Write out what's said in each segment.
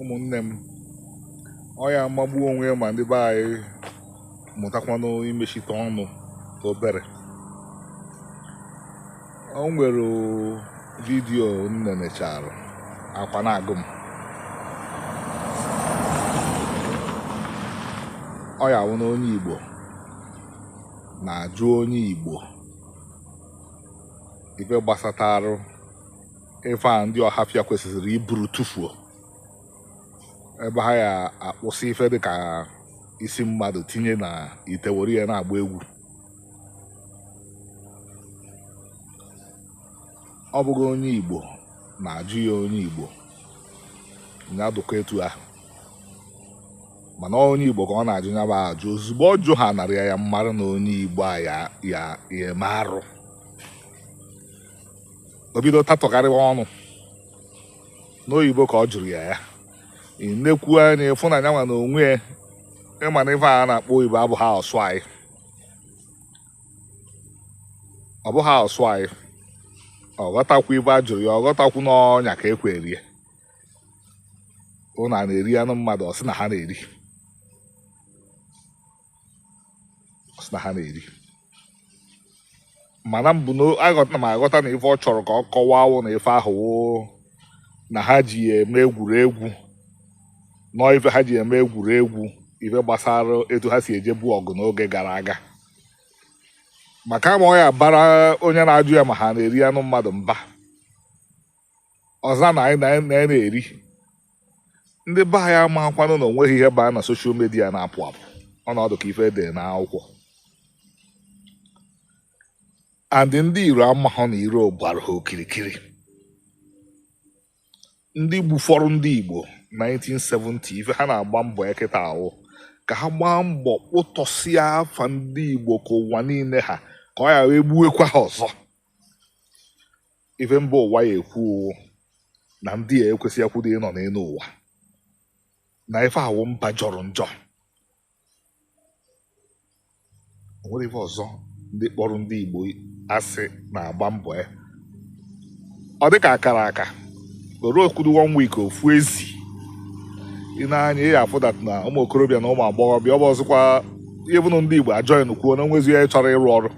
ụmụnne m ọ ya-amagbu onwe ya ma ndị be anyị mụtakwanụ imechite ọnụ ka obere o nwere vidiyo m nenechara akwa na-agụ m ọ ya wụ na onye Igbo na-ajụ onye Igbo ife gbasatarụ ife a ndị Ọhafịa kwesịrị iburu tụfuo ebe ha ya akpụsị ife dị ka isi mmadụ tinye na ite were ya na-agba egwu ọ bụghị onye Igbo na-ajụ ya onye Igbo ya dị ka etu ahụ mana ọ onye Igbo ka ọ na-ajụ ya bụ ajụ ozugbo ọ jụ ha narị ya m mara na onye Igbo a ya-eme arụ o bido tatọgharịwa ọnụ n'oyibo ka ọ jụrụ ya ya i nekwuo anya ị fụ na nyanwa na onwe ya ị ma na ife a na-akpọ oyibo abụghị asụ anyị ọ bụghị asụ anyị ọ ghọtakwu ife a jụrụ ya ọ ghọtakwu n'ọnya ka ekwe erie ụnụ ana-eri anụ mmadụ ọ sị na ha na-eri ọ sị na ha na-eri mana mbụ na aghọta na m aghọta na ife ọ chọrọ ka ọ kọwaa wụ na ife ahụ wụ na ha ji ya eme egwuregwu na ọ ife ha ji eme egwuregwu ife gbasara etu ha si ejebu ọgụ n'oge gara aga maka ma ọ ya bara onye na-ajụ ya ma ha na-eri anụ mmadụ mba ọ za na anyị na-eri ndị be anyị amakwanụ na o nweghị ihe baa na soshal midia na-apụ apụ ọ na-adị ka ife dị na akwụkwọ and ndị iro amahụ na iro gbara ha okirikiri ndị gbufọrọ ndị Igbo 1970 ife ha na-agba mbọ ya kịta wụ ka ha gbaa mbọ kpụtọsịa afa ndị Igbo ka ụwa niile ha ka ọ ya-awụ e gbuwekwa ha ọzọ ife mba ụwa ya-ekwu wụ na ndị a ekwesị akwụdo ịnọ n'elu ụwa na ife a wụ mba jọrọ njọ o nwere ife ọzọ ndị kpọrọ ndị Igbo asị na-agba mbọ ya ọ dị ka akara aka were okwudu one week ofu izu i nee anya ị afụ that na ụmụ okorobịa na ụmụ agbọghọbịa ọ bụ ọzọkwa ihe bụ na ndị Igbo ajọghị nkwuo na o nwezi ya chọrọ ịrụ ọrụ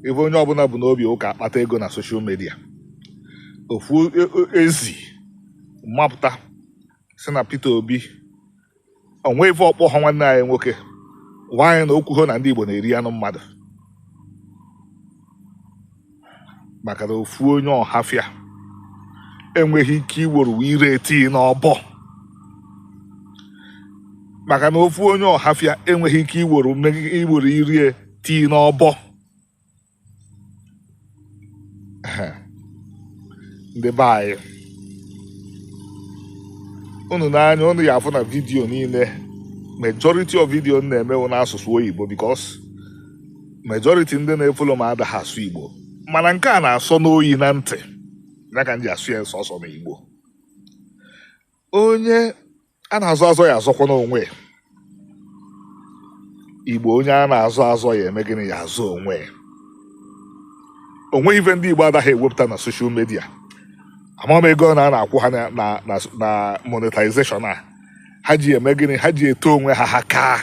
ife onye ọbụla bu n'obi ọ ka akpata ego na soshal midia ofu e- e- ezi mapụta sị na Peter Obi o nwe ife ọ kpọ ha nwanne anyị nwoke gwa anyị na okwu ho na ndị Igbo na-eri anụ mmadụ maka na ofu onye ọhafịa enweghị ike iworo ire tii n'ọbọ maka na ofu onye ọhafịa enweghị ike iworo mmegi- iworo ire ya tii n'ọbọ ndị be anyị unu nee anya unu ya afụ na vidiyo niile majority of vidiyo m na-eme wụ n'asụsụ oyibo because majority ndị na-efolo m adaghị asụ igbo mana nke a na-asọ m oyi na ntị ya ka m ji asụ ya sọsọ na igbo onye a na-azọ azọ ya azọkwanụ onwe ya. igbo onye a na-azọ azọ ya eme gịnị ya azọ onwe ya. o nweghị ife ndị igbo adaghị ewepụta na soshal midia amaghị m ego one a na-akwụ ha na- na na- na monetization a ha ji eme gịnị ha ji eto onwe ha ha kaa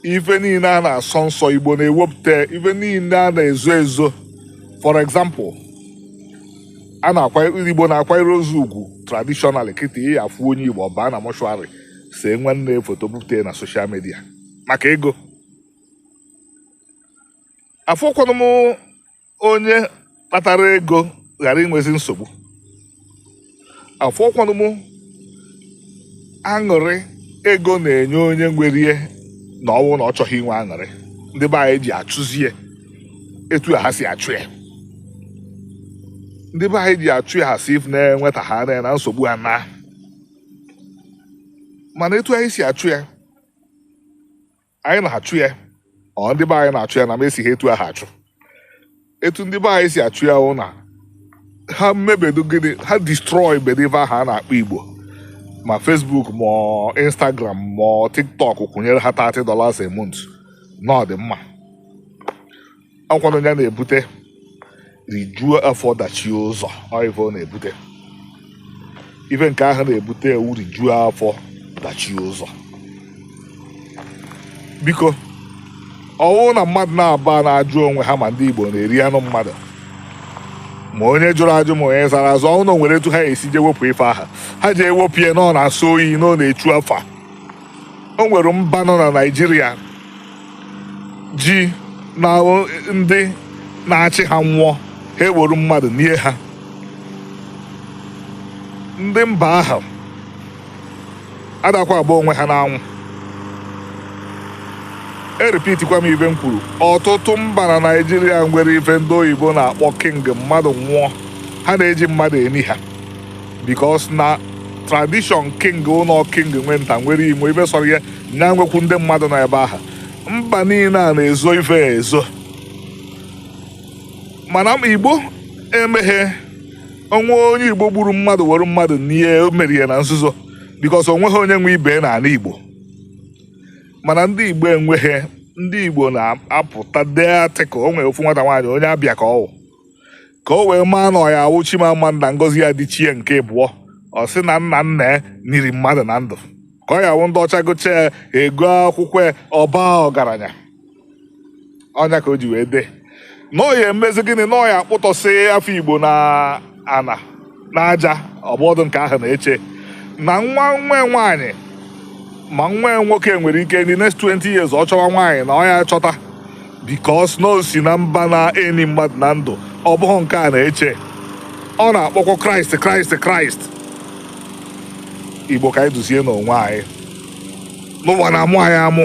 ife niile a na-asọ nsọ igbo na-ewepụta ife niile a na-ezo ezo for example a na-akwa igbo na-akwanyere ozu ugwu traditional kịta ị ya afụ onye igbo ọ baa na mọshụarị see nwanne ya foto bupụta na soshal midia maka ego afụkwanụ m onye kpatara ego ghara inwezi nsogbu afụkwanụ m aṅụrị ego na-enye onye nwere ya na ọ wụ na ọ chọghị inwe aṅụrị ndị be anyị ji achụzi ya etu a ha si achụ ya ndị be anyị ji achụ ya a sị ife na-enweta ha na na nsogbu ha na mana etu anyị si achụ ya anyị na-achụ ya or ndị be anyị na-achụ ya na m esighị etu ahụ achụ etu ndị be anyị si achụ ya wụ na ha mebedu gịnị ha destroy bedu ife ahụ a na-akpọ igbo ma facebook ma ọ instagram ma ọ tiktok kwụnyere ha 30 dollars a month na ọ dị mma ọ kwanụ ya na-ebute rijuo afọ dachie ụzọ ọ ife ọ na-ebute ife nke ahụ na-ebute wụ rijuo afọ dachie ụzọ biko ọ wụ na mmadụ na-aba na-ajụ onwe ha ma ndị Igbo na-eri anụ mmadụ ma onye jụrụ ajụ ma onye zara aza ọ wụ na e nwere etu ha esi je wepụ ife aha ha ji ewepụ ya na ọ na-asọ oyi na ọ na-echu afa o nwere mba nọ na naijiria ji na ndị na-achị ha nwụọ ha eworu mmadụ nie ha ndị mba ahụ adakwa agba onwe ha n'anwụ e repeatikwa m ife m kwuru ọtụtụ mba na naijiria nwere ife ndị oyibo na-akpọ king mmadụ nwụọ ha na-eji mmadụ eni ha because na tradition king ụlọ king nwe nta nwere ime ife sọrọ ya nya nwekwu ndị mmadụ nọ ebe ahụ mba niile a na-ezo ife ya ezo mana m- igbo emeghe o nwee onye igbo gburu mmadụ were mmadụ nie o mere ya na nzuzo bikos o nweghị onye nwe ibe n'ani igbo mana ndị igbo enweghị ndị igbo na-apụta dee article o nwere ofu nwata nwaanyị onye abịa ka ọ wụ ka o wee maa na ọ ya awụ Chimamanda Ngozi Adichie nke ịbụọ ọ sị na nna nna ya niri mmadụ na ndụ ka ọ ya awụ ndị ọcha gụcha ya egoo akwụkwọ ya ọ baa ọgaranya ọ nya ka o ji wee dee na ọ ya emezi gịnị na ọ ya akpụtọsị afa Igbo na ana n'aja ọ bụhọdụ nke ahụ na-eche na nwa nwa nwaanyị ma nwa nwoke nwere ike in the next 20 years ọ chọwa nwaanyị na ọ ya achọta because na o si na mba na-eni mmadụ na ndụ ọ bụghị nke a na-eche ọ na-akpọkwa kraịst kraịst kraịst igbo ka anyị duzienụ onwe anyị na ụwa na-amụ anyị amụ